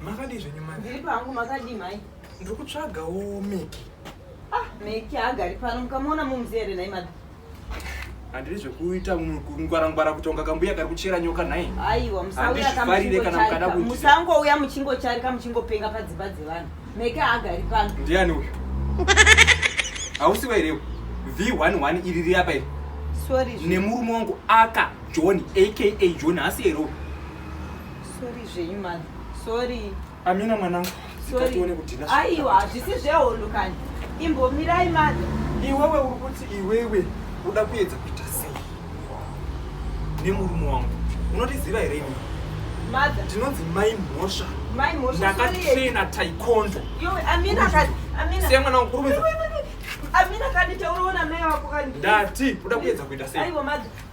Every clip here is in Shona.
makadii zvenyu mani ndiri pangu makadii mhai ndiri kutsvagawo meki ah meki haagari pano mukamuona mumzi here nhai mada handiri zvekuita ngwarangwara kutonga kambuya kari kuchera nyoka nhai aiwa musangouya muchingocharika muchingopenga padzimba dzevanhu meke haagari pano ndiani uyu hausi wairewo v11 iri riyapa iri nemurume wangu aka john aka john hasi erowo sorry zvenyu mani sorry Amina mwanangu. Sorry. Aiwa hazvisi zvehondo kani. Imbomirai mother. Iwewe uri kuti iwewe uda kuedza kuita sei? Nemurume wangu. Unotiziva here ini? Mother. Tinonzi mai mhosva. Mai mhosva. Ndakatraina taekwondo. Yowe Amina kani. Amina. Siya mwana wangu kurumidza. Amina kani tauroona mai wako kani. Ndati uda kuedza kuita sei? Aiwa mother.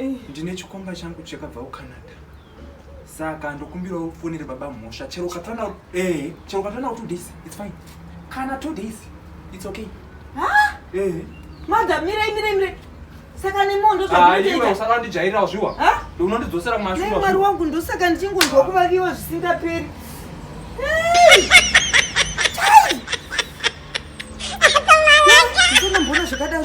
Eh. ndine chikomba changu chakabva kucanada saka ndokumbirawo ufonere baba mhosva chero ukatana eh, chero ukatana two days its fine kana two days its okay eh. madha mirai mirai mirai saka nemondo usaka ndijairira zviwa unondidzosera kumashuamwari wangu ndosaka ndichingonzwa kuvaviwa zvisingaperi ndinamboona zvakadaro